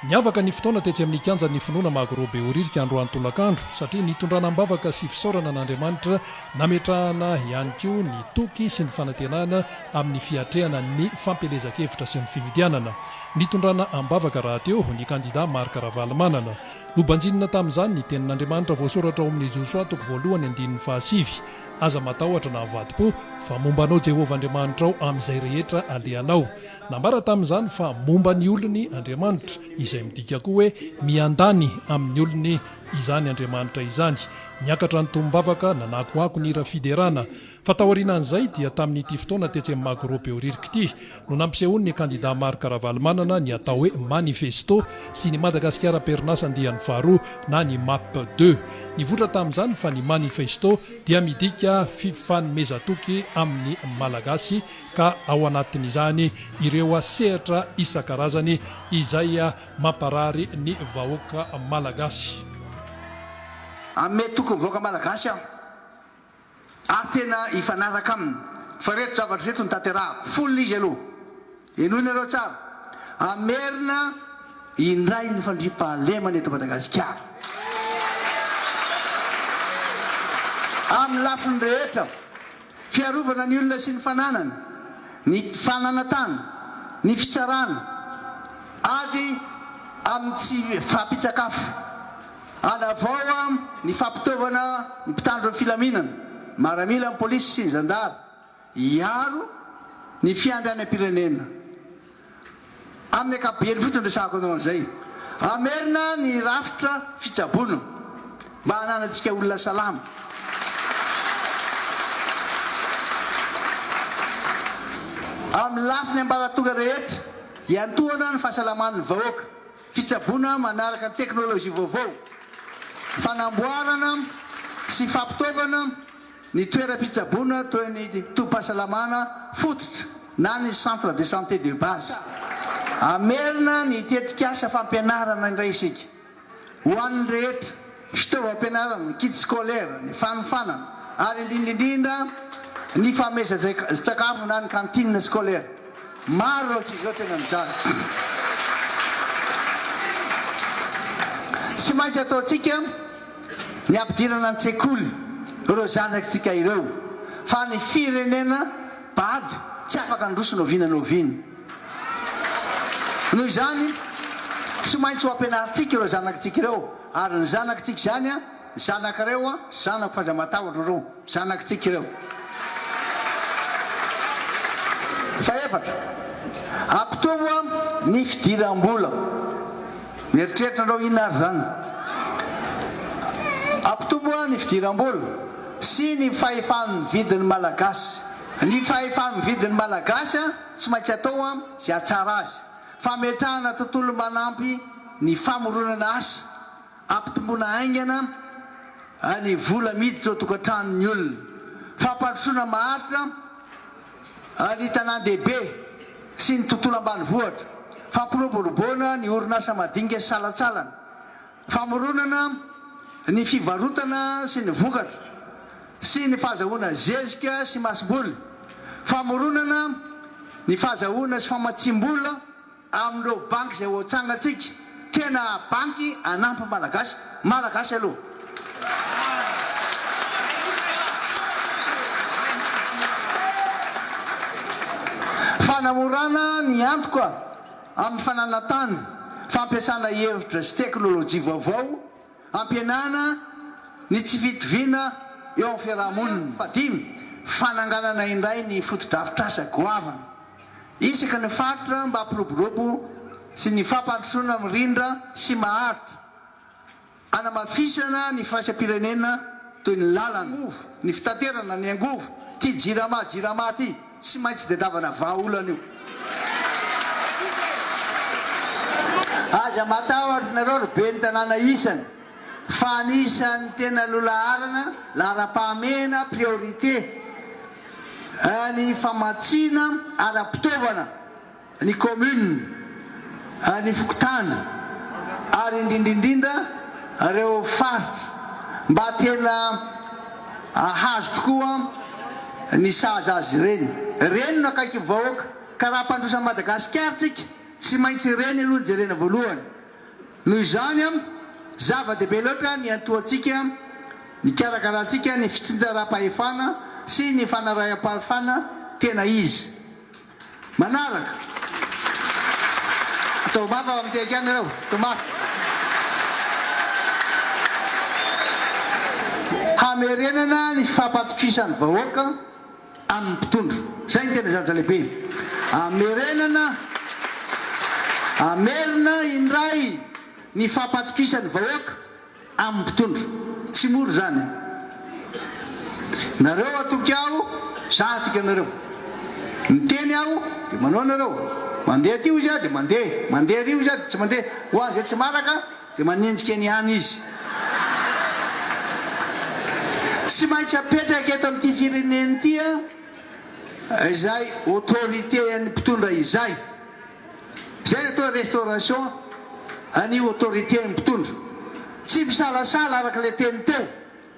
Niavaka ny fotoana tetsy amin'ny Kianjan'ny Finoana Magro Behoririka androany tolakandro, satria nitondrana am-bavaka sy fisaorana an'Andriamanitra, nametrahana ihany koa ny toky sy ny fanantenana amin'ny fiatrehana ny fampielezan-kevitra sy ny fifidianana. Nitondrana am-bavaka rahateo ny kandidà Marc Ravalomanana. Nobanjinina tamin'izany ny Tenin'Andriamanitra voasoratra ao amin'ny Josoa toko voalohany andininy fahasivy, Aza matahotra na avadi-po, fa momba anao Jehovah Andriamanitrao amin'izay rehetra alehanao. Nambara tamin'izany fa momba ny olony Andriamanitra, izay midika koa hoe miandany amin'ny olony izany Andriamanitra izany. Niakatra ny tombavaka, nanakoako ny hira fiderana. Fa taorianan'izay dia tamin'ity fotoana tetsy amin'ny Magro Behoririka ity no nampisehoan'ny kandida Marc Ravalomanana ny atao hoe manifesto sy ny Madagasikara Perinazy andiany faharoa na ny Map deux. Nivoitra tamin'izany fa ny manifesto dia midika fifanomezan-toky amin'ny Malagasy ka ao anatin'izany ireo sehatra isan-karazany izay mamparary ny vahoaka malagasy. Ame toky ny vahoaka malagasy aho ary tena hifanaraka aminy fa ireto zavatra ireto no tanterahako folo izy aloha henoy nareo tsara hamerina indray ny fandriampahalemana eto Madagasikara amin'ny lafiny rehetra Fiarovana ny olona sy ny fananany, ny fananantany, ny fitsarana, ady amin'ny tsy fahampian-tsakafo, hanavao am ny fampitaovana ny mpitandro ny filaminana, maramila, ny polisy sy ny zandary, hiaro ny fiandrianam-pirenena. Amin'ny ankapobeny fotsiny resahako anao an'izay. Raha merina ny rafitra fitsaboana mba hananantsika olona salama. Amin'ny lafiny ambaratonga rehetra, iantohana ny fahasalaman'ny vahoaka, fitsaboana manaraka ny teknolojia vaovao, fanamboarana sy fampitaovana, Ny toeram-pitsaboana toy ny tobim-pahasalamana fototra na ny centre de santé de base. Hamerina ny tetikasa fampianarana indray isika ho an'ny rehetra, fitaovam-pianarana, kits scolaires, ny fanofanana ary indrindra indrindra ny fameza-tsakafo na ny cantine scolaire. Maro ireo ankizy izao tena mijaly. Tsy maintsy ataontsika. ny hampidirana an-tsekoly ireo zanatsika ireo fa ny firenena bado tsy afaka handroso na oviana na oviana. Noho izany tsy maintsy ho ampianarintsika ireo zanatsika ireo ary ny zanatsika izany a, zanakareo a, zanako f'aza matahotra reo. Zanakitsika ireo. Fahefatra, ampitombo ny fidiram-bola. Mieritreritra anareo inona ary izany? Ampitombo ny fidiram-bola sy ny fahefa-mividin'ny Malagasy. Ny fahefa-mividin'ny Malagasy tsy maintsy atao izay hahatsara azy. Fametrahana tontolo manampy ny famoronana asa Ampitomboana haingana ny vola miditra ao an-tokantranon'ny olona. Fampandrosoana maharitra ny tanàn-dehibe sy ny tontolo ambanivohitra. Fampiroboroboana ny orinasa madinika sy salantsalany. Famoronana ny fivarotana sy ny vokatra sy ny fahazahoana zezika sy masomboly. Famoronana ny fahazahoana sy famatsiam-bola. Amin'ireo banky izay hoatsangantsika, tena banky hanampy ny Malagasy, Malagasy aloha. Fanamorana ny antoka amin'ny fananantany, fampiasana hevitra sy teknolojia vaovao, Ampihenana ny tsy fitoviana eo amin'ny fiaraha-monina. Fahadimy, fananganana indray ny fotodrafitrasa goavana isaky ny faritra mba hampiroborobo sy ny fampandrosoana mirindra sy maharitra, hanamafisana ny firaisam-pirenena toy ny lalana, ny angovo, ny fitaterana, ny angovo, ity Jirama, Jirama ity. Tsy maintsy dedavana vahaolana io. Aza matahotra nareo ry Ben'ny tanàna isany fa anisan'ny tena lolaharana laharam-pahamehana, priorité, ny famatsiana ara-pitaovana. ny commune, ny fokontany ary indrindrindrindra ireo faritra mba tena hahazo tokoa ny sahaza azy ireny. Reny no akaiky ny vahoaka ka raha mpandroso an'i Madagasikara tsika tsy maintsy reny aloha no jerena voalohany. Noho izany zava dehibe loatra ny hiantohantsika, ny hikarakarantsika ny fitsinjaram-pahefana sy ny fanaraham-pahefana tena izy. Manaraka. Atao mafy ao amin'ny tehaka any ireo. Atao mafy. Hamerenana ny fampatokisan'ny vahoaka amin'ny mpitondra. Izay no tena zavatra lehibe. Hamerenana, hamerina indray ny fampatokisan'ny vahoaka. Amin'ny mpitondra. Tsy mora izany e. Nareo atoky aho, za atoky anareo. Miteny aho dia manao nareo. Mandeha aty hoy za dia mandeha. Mandeha ary hoy za dia tsy mandeha. Ho an'ny izay tsy maraka dia manenjika eny ihany izy. Tsy maintsy apetraka eto amin'ity firenena ity izay autorité an'ny mpitondra izay. Zay le atao restauration an'io autorité mpitondra. Tsy misalasala araka le teny teo,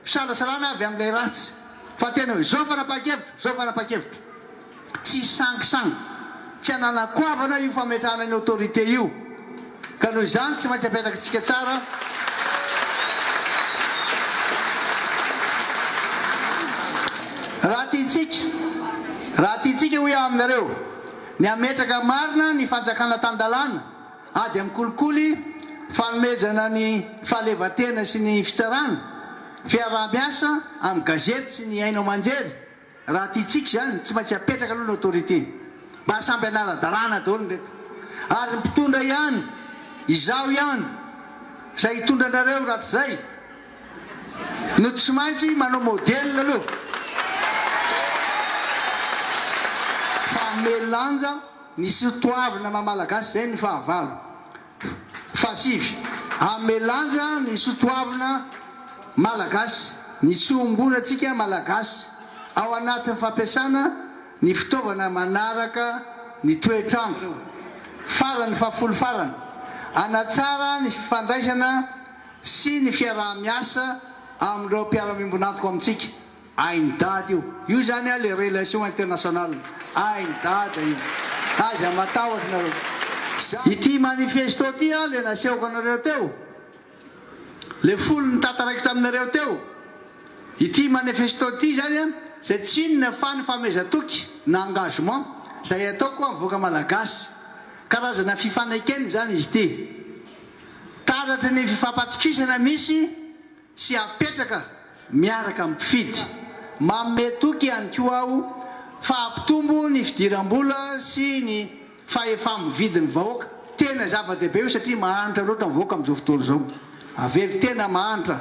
fisalasalana avy amin'ilay ratsy. Fa tena hoe zao fanapahan-kevitro, zao fanapahan-kevitro. Tsisy sangisangy. Tsy ananako goavana io fametrahana ny autorité io. Ka noho izany tsy maintsy apetrakintsika tsara raha tiantsika, raha tiantsika hoy aho aminareo. Ny hametraka marina ny fanjakana tan-dalàna, ady amin'ny kolikoly, fanomezana ny fahalevan-tena sy ny fitsarana, fiaraha-miasa amin'ny gazety sy ny haino aman-jery, raha tiantsika izany, tsy maintsy apetraka aloha ny autorité. Mba samby hanara-dalàna daholo ireto. Ary ny mpitondra ihany, izaho ihany, izay hitondra anareo rahatrizay. no tsy maintsy manao modèle aloha fa hanome lanja ny sotoavina maha malagasy izay ny fahavalo fahasivy hanome lanja ny sotoavina malagasy ny tsiombonantsika malagasy ao anatin'ny fampiasana ny fitaovana manaraka ny toetr'andro farany fahafolo farany hanatsara ny fifandraisana sy ny fiaraha-miasa amin'ireo mpiara-miombon'antoka amintsika. Hain'i Dada io. Io izany an, le relation internationale. Hain'i Dada io. Aza matahotra nareo. Ity manifesto ity an, le nasehoko anareo teo, le folo ny tataraiko taminareo teo. Ity manifesto ity izany an, izay tsy inona fa ny famehezan-toky na engagement izay ataoko amin'ny vahoaka malagasy. Karazana fifanekena izany izy ity. Taratry ny fifampatokisana misy sy apetraka miaraka amin'ny mpifidy. Manome toky ihany koa aho fa hampitombo ny fidiram-bola sy ny fahefa-mividin'ny vahoaka. Tena zava-dehibe io satria mahantra loatra ny vahoaka amin'izao fotoana izao. Avelo tena mahantra.